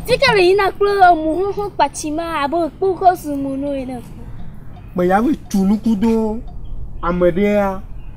Sikari yina kple emu xoxo kpatsi ma abe kpokɔ su mu no ene. Mɛ ya mi tu nuku do ame ɖea.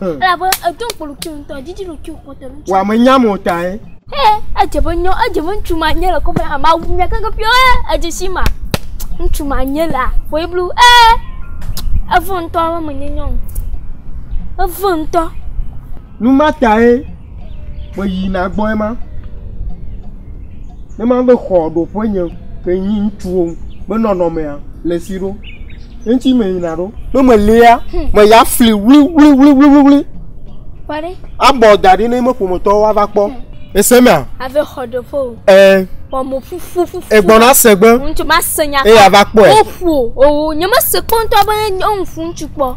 elabe edo kpoluki ŋutɔ didi ɖoki kpɔtɔ ŋutɔ wa me nyam o tae he edze be nyɔ edze be ŋutsu ma nye le kɔfɛ ama wu nya keke pio he edze si ma ŋutsu ma nye la fɔ iblu he eve ŋutɔ me menye nyɔ o eve ŋutɔ nu ma tae meyina gbɔ ema, ne ma be xɔ ɖoƒe nye ke nyi ŋutsuwo be nɔnɔmea le si ɖo eŋuti meyina ɖo ne melia me ya fli wliwliwliwliwli abɔ da ɖi ne me ƒometɔwo ava kpɔ ese mea. Ave xɔ ɖoƒe o. Ɛɛ. Wɔmɔ ƒuƒu ƒuƒu. Egbɔna se gbe. Ŋutsu ma se nya. Eya va kpɔe. Woƒo owo nye me se kpɔntɔ be nyɔnu ŋutsu kpɔ.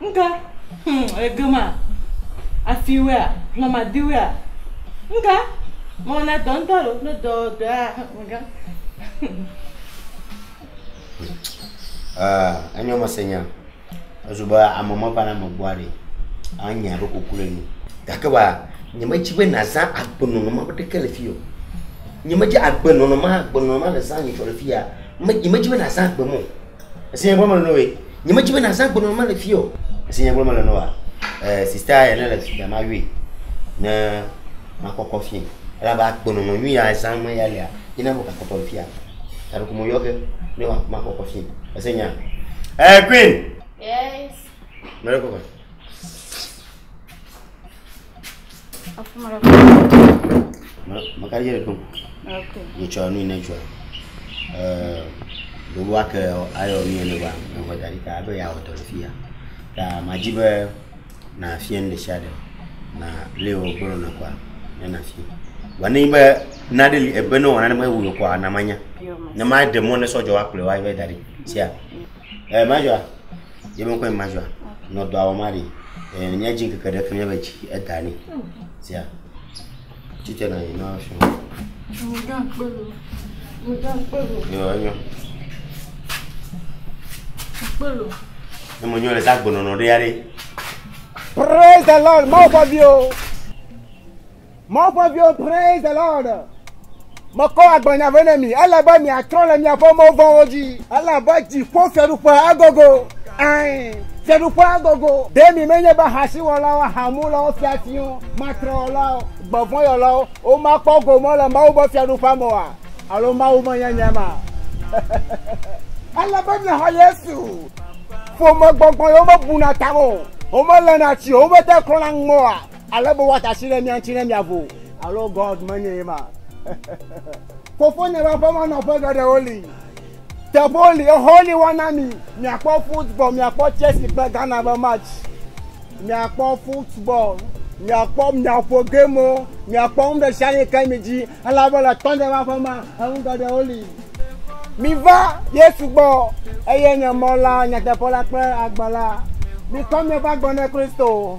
Ŋka, hum, egema, afiwɛa, hlɔmadiwɛa, ŋka, mɔ na dɔ ŋtɔ lo, no dɔ dɔa, ŋka. Ah, enyo me se nya. Ezo be ame me va na me gbɔ aɖe. Ah, nya ɖo kuku le ni. Gake ba, nye me dzi be na za agbe nɔnɔ ma be ɖeke le fi yo. Nye me dzi agbe nɔnɔ ma, agbe nɔnɔ ma le za nye tsɔ le fi ya. Me, nye me dzi be na za agbe mo. Èse nya gblɔm mele nɔwoe? Nyemedi be nàzã agbenɔnɔ ma le fiyeɔ. Èse nya gblɔm mele nɔwoa? Ɛɛ, sista ya nele fi mea, mayɔe ne makɔkɔ fiẽ. Elabe agbenɔnɔ nyui ya zã me ya lea, ye na mekpɔtɔ le fiya. Gaɖe ko meyɔ ge ne ma- makɔkɔ fiẽ. Èse nyaa? Ɛɛ, Queen! Yes. Mele kɔkɔe. Maka ye ɖe kpɔ. Ŋutsua nu yi ne dzɔa, ee ɖewo ake ayɔ nu yi ne va nɔƒe da ɖi ta abe yeawɔ dɔ le fi ya. Ta madi be nàfia nu ɖesiaɖe na lé wògblɔ nɔ kɔa ne nàfia. Vɔ ne nyi be nane li ebe ne wɔ nane mewɔ kɔa na manya. Ne maɖe mɔ ne sɔ dzɔ woakplɔe va yi va yi da ɖi sia. Eh, majua. Ye me kɔe majua. Nɔ dɔ awɔ ma ɖi. Eh, nya dzi keke ɖe fi nyebe dzi eda ni. Sia. Tite na yi na fi. Mo dɔ kpe lo. Mo dɔ kpe lo. Yo, enyo. Kpe lo. Ne mo nyo le sa gbɔnɔnɔ ɖe ya ɖe. Praise the Lord, mau fɔ bi o. Mawu ƒe viwo, praise the Lord. Mekɔ agblenya vɛ na mi. Ele be miatrɔ le miaƒe mɔ vɔ̃wo dzi. Elabe dziƒo fiaɖuƒea agogo. Ɛ̃, fiaɖuƒea agogo. Ɖe mi menye be ahasiwɔlawo, ahamulawo, fiafiwo, matrewɔlawo, gbevɔ̃yɔlawo womakpɔ gome le Mawu ƒe fiaɖuƒea me oa? Alo Mawu menye nye ma? Ele be miaxɔ Yesu. Ƒomegbɔgbɔ yewo mebuna ta o. Womelena tsi o. Womete klɔna ŋmɔ oa? Ale be woate asi ɖe mía ŋuti ne miavo. Alo God menye ye ma. Fofonye ƒe aƒe me nɔƒe geɖewo li. Teƒewo li, exɔwo li woana mi. Miakpɔ football, miakpɔ Chelsea kple Ghana ƒe match. Miakpɔ football, miakpɔ miaƒo gamewo, miakpɔ nu ɖe sia ɖe ke mi dzi. Elabe le tɔnye ƒe aƒe me enu geɖewo li. Miva Yesu gbɔ, eye nye mɔ la, nyateƒe la kple agbe la. Mikɔ miaƒe agbe na Kristo.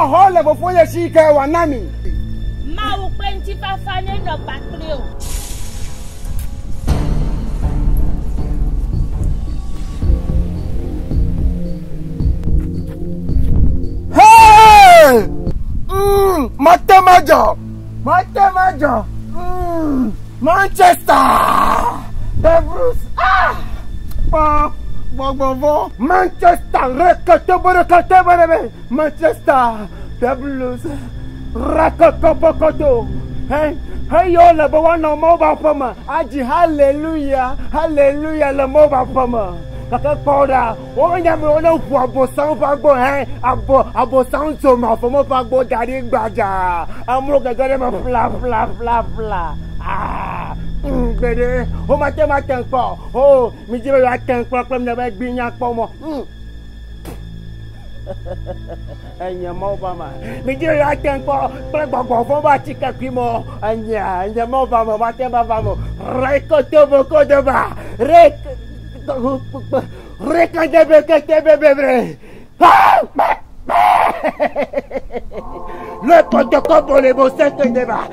Exɔ le Fofonye si ke wòana mi. Mawu ƒe ŋutifafa nenɔ kpakple wò. Mate Majɔ, Mate Majɔ, mm, Manchester, The Bruce, ah, gbɔgbɔvɔ, Manchester, rekete bere kete bere bere. Manchester the Blues rakɔkɔ bɔkɔdo he heyɔ le be woanɔ Mawu ƒe aƒe me adzi haleluya haleluya le Mawu ƒe aƒe me gake kpɔ ɖa wonya be wone ʋu abosam ƒe agbo he abo abosam tso mafɔme ƒe agbo da ɖi gbadza amewo gege ɖe me ƒlaƒlaƒlaƒla aa gbeɖe womate ŋu ate ŋu kpɔ o midzi be yewoate ŋu kpɔ kple mne be gbinya kpɔ mɔ enye mɔ va ma midi ya te ŋkɔ kple gbɔgbɔ vɔ va ti ke kui mɔ enye enye mɔ va ma va te va va mo re ko to bo ko de ba re re ka de be ke te be be be pa pa pa le ko to ko bo le bo se ke de ba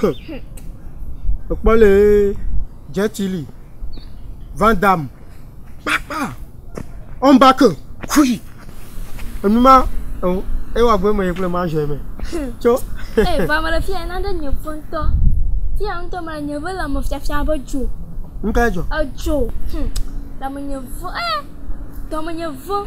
Hum. Ekpɔ le Jetili, Van Damme, kpakpa, Ɔmbake, kui. Enu ma eo ewa gbe me kple ma ʒe me. Tso. Ee, vɔ ame ɖe fia na ɖe nye ƒe ŋutɔ. Fia ŋutɔ me le nye ƒe le ame fiafia be dzo. Ŋka edzɔ. Edzo. Hum. Dame nye vo. Ee, dame nye vo.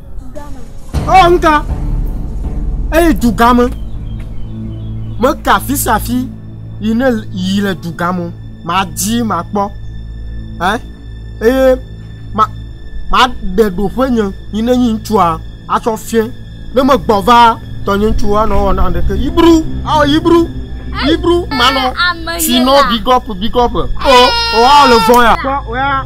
Ewɔ nuka? Eyi dugame. Meka afi sia afi yi ne yi le dugame. Madi makpɔ. Eh? Eye ma maɖe ɖoƒe nye yi ne nyi ŋutsua atsɔ fiẽ. Ne megbɔ va tɔnye ŋutsu anɔ wɔ na ɖeke. Yibru, awɔ yibru. Yibru manɔ. Sinɔ bigɔp bigɔp. O, o awɔ le vɔ ya. Kpɔ o ya.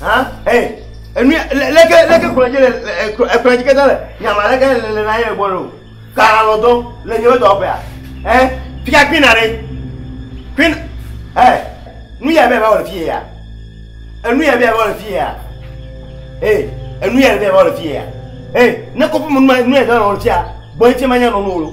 han ɛ enu leke leke kplɔ dzi le ekplɔ dzi katã le nyama leke le le nanyi le gbɔ nɔ kana lɔ dɔ le nyi wodɔ ƒea ɛ fika kpin na ɖe kpin ɛ nu yɛ bɛ bɛ wɔ le fi yɛ enu yɛ bɛ bɛ wɔ le fi yɛ ɛ enu yɛ bɛ bɛ wɔ le fi yɛ ɛ ne kɔpu mu nu yɛ dɔ wɔ le fi yɛ gbɔ ŋuti ma nya nɔ nu wolo.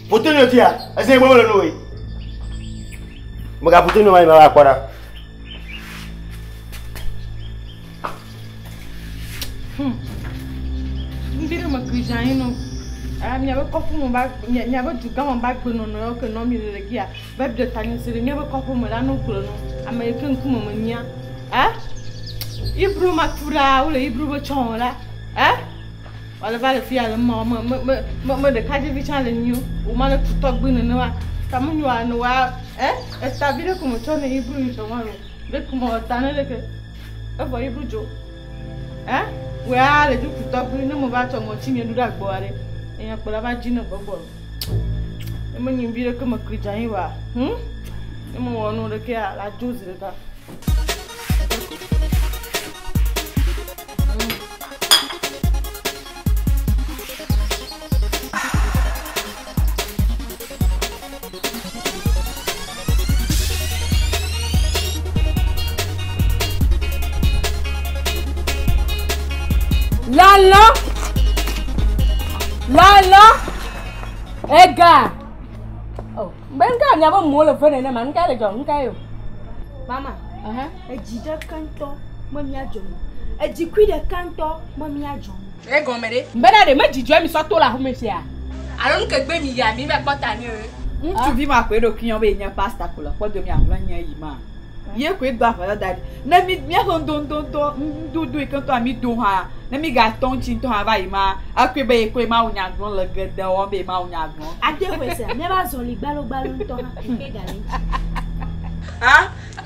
Poto nyo tia, ese gbɔ wole noe. Mega poto nyo mai ma akpɔ ɖa. Hmm. Ndi ɖe me krijan yi no. Ah, miabe kɔƒe me ba miabe dugã me ba gbenɔnɔ yɔ ke nɔ mi le le gia va ɖe tanye se ɖe miabe kɔƒe me la no gblɔ no ame yi ke ŋkume me nyia. Eh? Ibro ma tu ɖa wole ibro be tsɔ la. Eh? Wòale va le fi ya le mɔ me me me me me ɖekadzevi tsã le nyi o ma le tutɔgbi nene wa ta mu nyoa ne wa ɛ eta bi ɖe ko me tsɔ ne yi blu tsɔ ma lo ɖe ko me ta ne ɖe ke evɔ yi blu dzo ɛ wɛa le ju tutɔgbi ne mo va tsɔ ŋɔtsi nye ɖu ɖe agbɔ aɖe enya kpɔla va dzi ne gbɔgbɔ lo ne me nyi bi ɖe ke me kli dza yi wa hm ne me wɔ nu ɖe ke la dzo zi ɖeka. Lala, lala, ega. Oh, ben ka nya ba mo le fene ne man ka le jong ka yo. Mama. Uh-huh. Edzi ɖeka ŋutɔ me míadzɔ mɔ. Edzi kui ɖeka ŋutɔ me míadzɔ mɔ. Egɔme ɖe? Bena ɖe medzidzɔe mi sɔ to le aƒeme sia? Alo nu ke gbe mi yia mi va kpɔta ni eo? Ŋutsuvi ma koe ɖo kuiɔ be yenye pasta ko le kpɔdo mi ahlɔe nye eyi ma. Ye koe do aƒetɔ da ɖi. Ne mi míaƒe ŋdoŋdoŋtɔ ŋdodo yi ke ŋutɔ mi do hã ne mi ga tɔ ŋutsi ŋutɔ hã va yi ma akoe be ye koe ma wo nya gblɔ le gede wɔm be ma wo nya gblɔ. Ade hɔe se a míaƒe azɔli gbalogbalo ŋutɔ hã koe ga le ŋutsi. Ha?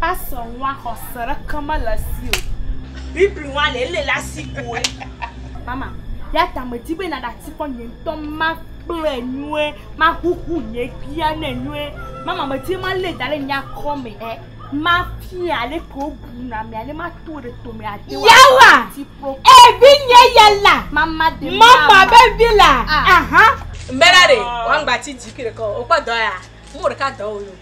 Pastor ŋua xɔse ɖeke mele esi o. Bible ŋua le ele le asi koe. Mama, yata medi be naɖe asi kɔ nye ŋutɔ makplɔe nyuie, mahuhu nye bia ne nyuie. Mama medi malé da ɖe nye akɔ me he mafia ale ke wobuna me ale mato ɖe tome ade wa. Yawa! Ebi nye yala. Mama de mama. Mama be vila. Ah. Aha. Mbela de, wangbati dzi ke ɖekɔ, okpɔ dɔ ya, mo ɖeka dɔ wo yo.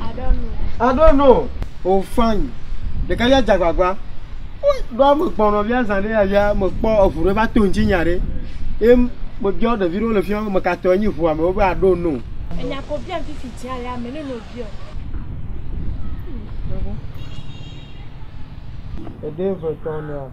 I don't know. I don't know. Oh fine. Ɖeka ya jagbagba. Ɖoa me kpɔ nɔvia zã ɖe ya ya me kpɔ eŋu ɖe va to ŋuti nya ɖe. Ye me biɔ ɖevi ɖewo le fi ma me katɔ enyi ŋua me wobe I don't know. Enya ko biam fifi tia ya me ne no biɔ. Ede ve tɔ nea.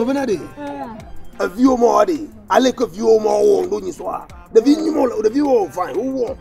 mevena ɖe eviwo mɔ ɖe ale ke viwo mɔ wo ɖo nyi sɔa ɖevi nyi mɔ ɖeviwo vɔe wowɔ.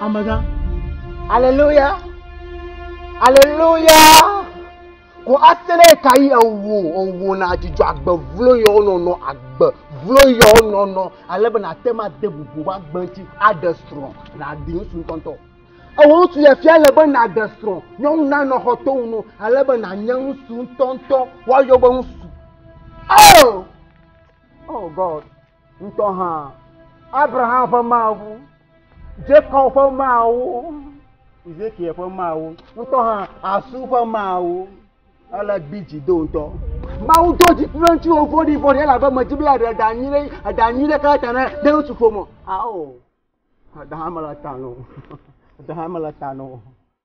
Amegã. Aleluya. Aleluya. Ko asene kayi ewo ewo na dzidzɔ agbe vlo yɔ nɔnɔ agbe vlo yɔ nɔnɔ ale be na te ma de bubu wa gbe ŋuti aɖe srɔ̃ na ɖi ŋusu ŋutɔntɔ. Ewo ŋusu yɛ fia le be na ɖe srɔ̃ nyɔnu na nɔ xɔ to ŋu ale be na nye ŋusu ŋutɔntɔ wa yɔ be ŋusu. Oh! Oh God. Ŋutɔ hã, Abraham ƒe Mawu, Jakob ƒe Mawu, Ezekiel ƒe Mawu, ŋutɔ hã Asu ƒe Mawu. Ele gbi dzi do ŋutɔ. Mawu do dzi kple ŋutsuwo vɔɖi vɔɖi elabe medi be yeaɖe eɖa nyui ɖe eɖa nyui ɖe katã ne de ŋutsu ƒome. Ao, eɖa hã mele ta na o. Eɖa hã mele ta na o.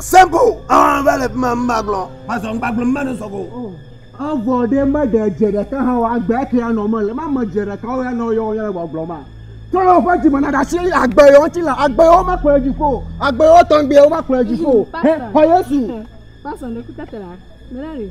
Simple. Ah, va le ma ma gblɔ. Ma zɔ ngba gblɔ ma no sɔgo. Avɔ oh. ɖe ma ɖe dze ɖeka ha wa gbe ke ya nɔ me le ma me dze ɖeka wo ya nɔ yɔ ya le gbɔgblɔ ma. Tolo fa ti mana da si agbe yo ti la agbe yo ma kplɔ ji ko. Agbe yo tɔn gbe yo ma kplɔ ji ko. He, ho Yesu. Pastor ne kutatela. Melari.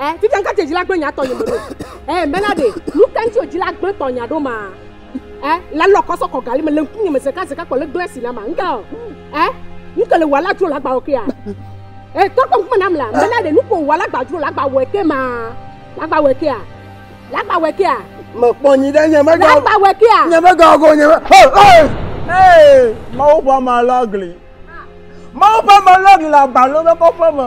Eh, fifia ŋkate dzila gblẽ nya tɔ nye meɖo. Eh, mena ɖe, nu ka ŋti o dzila gblẽ tɔ nya ɖo ma? Eh, la lɔ kɔsɔ kɔ gali me le ŋkunye me zeka zeka kɔ le gblẽ si na ma. Ŋka o. Eh, ŋke le wɔ la dzro la gba oke ya. Eh, tɔ kɔ ŋkume nam la, mena ɖe, nuko wɔ la gba dzro la gba wɔ ke ma. La gba wɔ ke ya. La gba wɔ ke ya. Me kpɔ nyi ɖe nye mega. La gba wɔ ke ya. Nye mega go nye. Hey, hey! Hey, mawu pa ma lagli. Mawu pa ma lagli la balome kɔƒe me.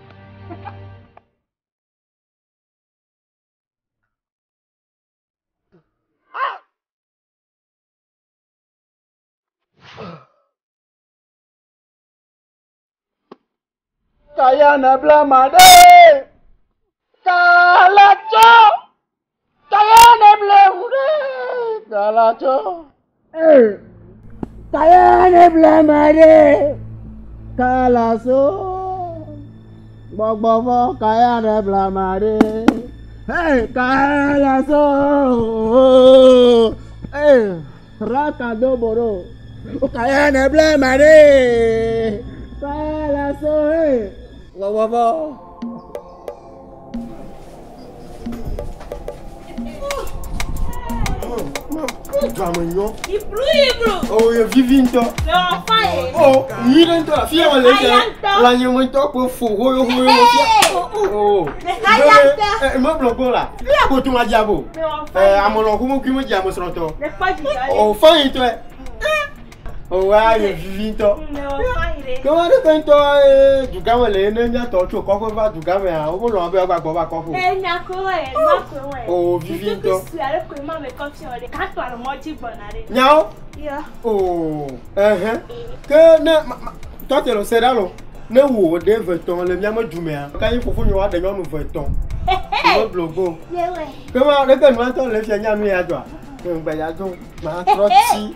Kaya na bla ma ɖe. Kala tsɔ. Taya ne ble ŋu ɖe dala tsɔ. Taya ne ble ma ɖe kala so. Gbɔgbɔ vɔ kaya ne ble ma ɖe. Kala so. Raka do boro. Kaya ne ble ma ɖe. Kala so. Gbɔgbɔ vɔ. Drame nyɔ. Iblu iblu. O oh, ye vivi ŋutɔ. Dɔwɔ fa ye. O oh, nyi ɖe ŋutɔ afi yɛn le dɛ. Lanyi mo ŋutɔ kpo fo hoyo hoyo mo fia. O. Aya ŋutɔ. Ɛ mɔ blɔ gbɔ la. Fi yɛ ko tún wa dza bo. Ɛ amɔlɔ ko mo kí mo dza mo srɔtɔ. O fa yi tɔ yɛ. Ewɔa ye vivi ŋutɔ. Ke wo ɖe ŋutɔ ee dugãme le ne mía tɔwo tso kɔƒe va dugãmea wo lɔ̃ be woagba gbɔ va kɔƒe o. Enya ko wɔ ye nua ko wɔ ye. Oo vivi ŋutɔ. Kutu sue ale ko ma me kɔfi wɔ ɖe. Kato ale mɔ dzi gbɔna ɖe. Nyawo. Yɔ. Oo ehɛn. Ke ne tɔte lo se ɖa lo ne wo ɖe ve tɔn le mía me dumea. Kanyi fofo nyo wa ɖe nyɔnu ve tɔn. Hehe. Wo blo go. Ye wɛ. Ke ma ɖe ke nua tɔ le fia nya nu ya dɔa. Ŋgbɛ ya do ma trɔ tsi.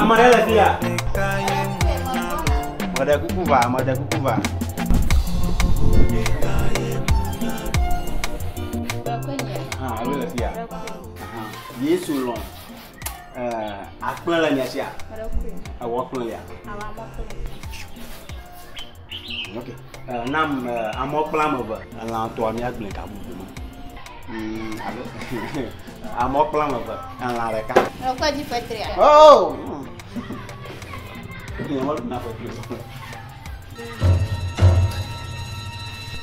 Ame aɖe le fi ya. Meɖe kuku va, meɖe kuku va. Ah, alo le fi ya. Aha. Yesu lɔ eh, akplẽ le mia sia. Ewɔ kplẽ lia. Ok, nam amɔ kpla ame eve. Elã tɔa mía gblẽ ka bubu me. Hmm, alo, amɔ kpla ame eve, elã ɖeka. Ekɔ dzi fetria? Oh! Nyɛ mɔ ɖuna fetri.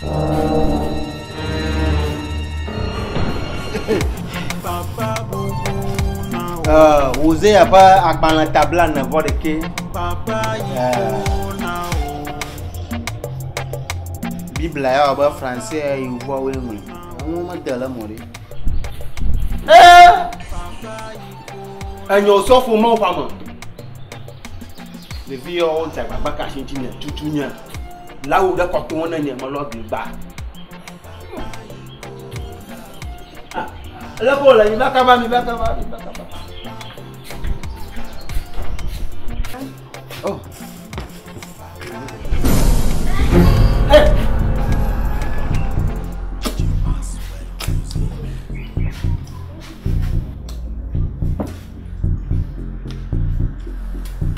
Thank you. Hosea ƒe agbalẽ tabla ne vɔ ɖekɛ. Biblia ya wɔbe fransɛ yevuawoe ŋlɔe. Enuwo mede le mɔ ɖi. Enyo sɔfo mɔ ƒame. Ɖevi yawo dze agbagba kasi ŋuti nye tutu nye. Lawu ɖe kɔ to ŋu ne nye melɔ gli gba. Ele ko le mi va kaba mi va kaba mi va kaba. Oh. Hey.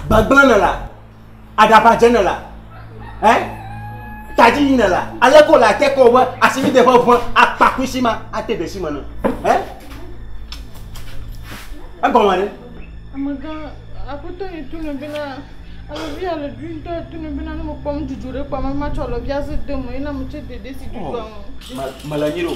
Bagblana la. Adaba dze nela. Eh? Tadi yi nela. Ale ko la te ko be asimi de ƒe ʋe akpa kusi ma ate de si me ne. Eh? Egɔme ne? Amega aƒetɔ yi tu ne bena alɔvia le dui ŋutɔ tu ne bena ne me kpɔm dzudzɔ ɖe kpɔm ma tsɔ alɔvia se de me ena me tse dede si dzudzɔ ŋu. Mele nyi ɖo.